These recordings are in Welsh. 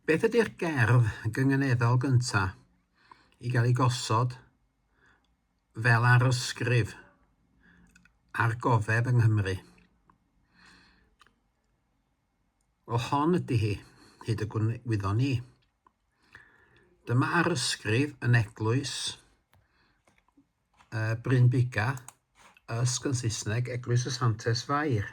Beth ydy'r gerdd gynganeddol gyntaf i gael ei gosod fel arysgrif ar gofeb yng Nghymru? Wel, hon ydy hi, hyd y gwyddo ni. Dyma arysgrif yn eglwys uh, Bryn Biga, ysg yn Saesneg, Eglwys y Santes Fair.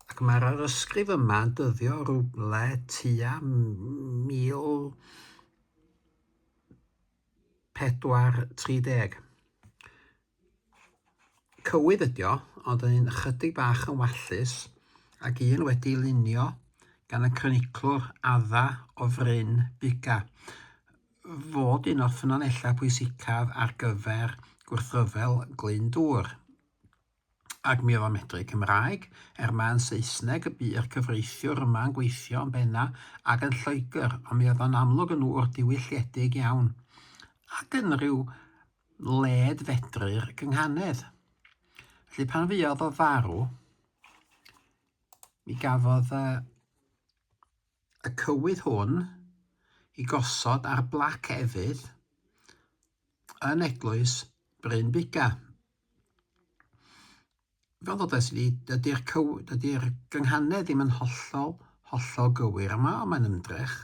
Ac mae'r arysgrif yma yn dyddio rhywle tua 1430. Cywydd ydi o, ond yn un ychydig bach yn wallus, ac un wedi'i lunio gan y croniclwr adda o fryn Buga, fod un o'r ffynonellau pwysicaf ar gyfer gwrthryfel Glyndŵr. Ac mi oedd o'n medru Cymraeg, er mai yn Saesneg y bu'r cyfreithiwr yma yn gweithio yn benna ac yn Lloegr, ond mi oedd o'n amlwg yn ŵr diwylliedig iawn, ac yn rhyw led fedru'r gynghanedd. Felly pan fuodd o farw, mi gafodd uh, y cywydd hwn i gosod ar blac efydd yn eglwys Bryn Biga. Fel ddodes i, dydy'r cyw- dydy'r gynghanedd ddim yn hollol, hollol gywir yma, ond mae'n ymdrech.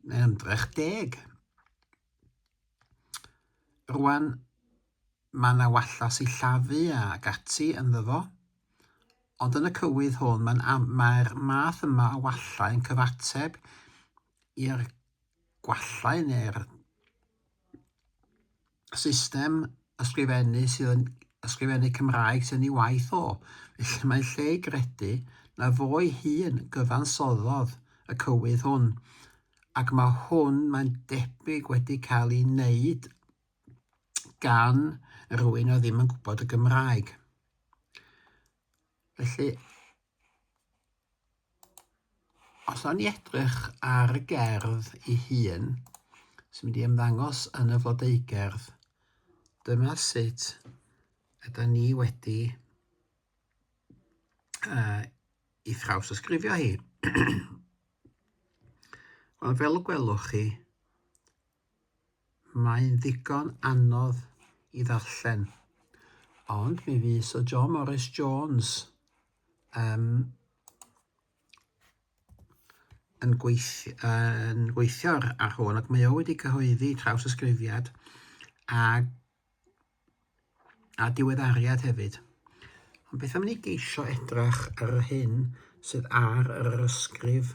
Mae'n ymdrech deg. Rwan, mae yna walla sillafu ac ati ynddo fo, ond yn y cywydd hwn mae'n am- mae'r math yma o wallau yn cyfateb i'r gwallau neu'r system ysgrifennu sydd yn ysgrifennu Cymraeg sy'n ei waith o, felly mae'n lle i gredu na fo'i hun gyfansoddodd y cywydd hwn, ac mae hwn, mae'n debyg, wedi cael ei wneud gan rwy'n oedd ddim yn gwybod y Gymraeg. Felly, Os o'n i edrych ar y gerdd i hun sy'n mynd i ymddangos yn y flodeugerdd, dyma sut yda ni wedi uh, i thraws ysgrifio hi. Wel, fel y gwelwch chi, Mae'n ddigon anodd i ddarllen, ond mi fu Syr John Morris Jones um, yn, gweithio, yn gweithio ar hwn ac mae o wedi cyhoeddi trawsysgrifiad a a diweddariad hefyd. Ond beth am ni geisio edrach ar yr hyn sydd ar yr ysgrif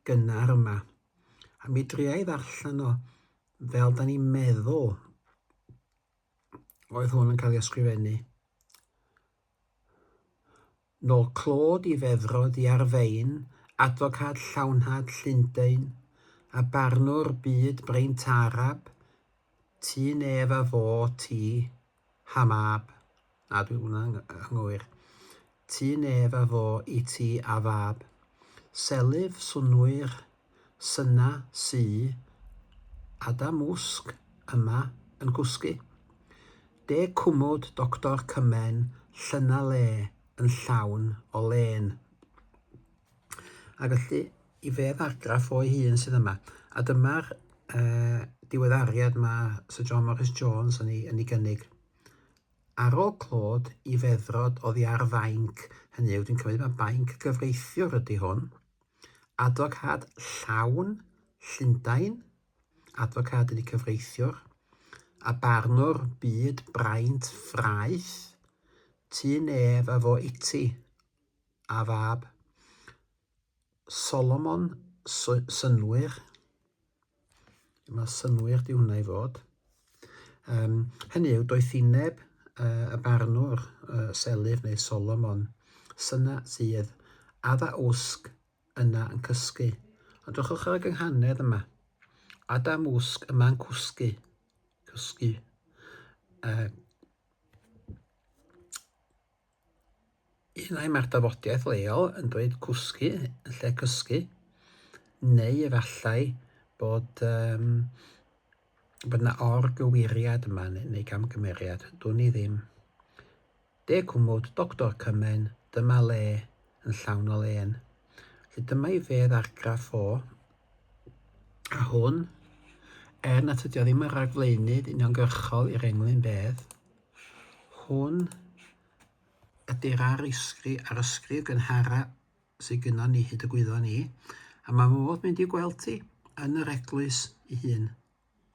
gynnar yma, a mi dria i ddarllen o fel da ni'n meddwl oedd hwn yn cael ei ysgrifennu. Nôl clod i feddrod i ar fein, adfocad llawnhad Llundain, a barnwr byd braint arab, ti nef a fo ti, Hamab, na dwi hwnna yn anghywir, ti nef a fo i ti a fab. Selyf, swnwyr, Syna sy a da mwsg yma yn gwsgu. De cwmwd Doctor Cymen llyna le yn llawn o lên. A felly, i fedd argraff o'i hun sydd yma. A dyma'r uh, diweddariad mae Sir John Morris Jones yn ei, yn ei gynnig. Ar ôl clod i feddrod oddi ar fainc, hynny yw, dwi'n cymryd mae bainc gyfreithiwr ydy hwn, Adfocâd llawn, Llundain, adfocâd yn y cyfreithiwr, a barnwr byd braint ffraeth, tu nef a fo iti, a fab Solomon, synnwyr. Mae synnwyr di hwnna i fod. Um, hynny yw, doeth i neb uh, y barnwr uh, Selyf neu Solomon syna sydd adda wsg yna yn cysgu. Ond drwchwch ar y gynghanedd yma. Adam wsg yma'n cwsgu. Cysgu. Uh, Un ai mae'r dafodiaith leol yn dweud cwsgu yn lle cysgu, neu efallai bod um, bod yna orgywiriad yma neu, neu gamgymeriad, dwn i ddim. De cwmwd, doctor cymen, dyma le yn llawn o len. Felly dyma i fedd argraff o, a hwn, er nad ydy o ddim yn ragflaenydd uniongyrchol i'r englyn bedd, Hwn ydy'r arysgri, arysgri gynhara sydd gynnon ni hyd y gwyddon ni, a mae modd mynd i gweld ti yn yr eglwys ei hun.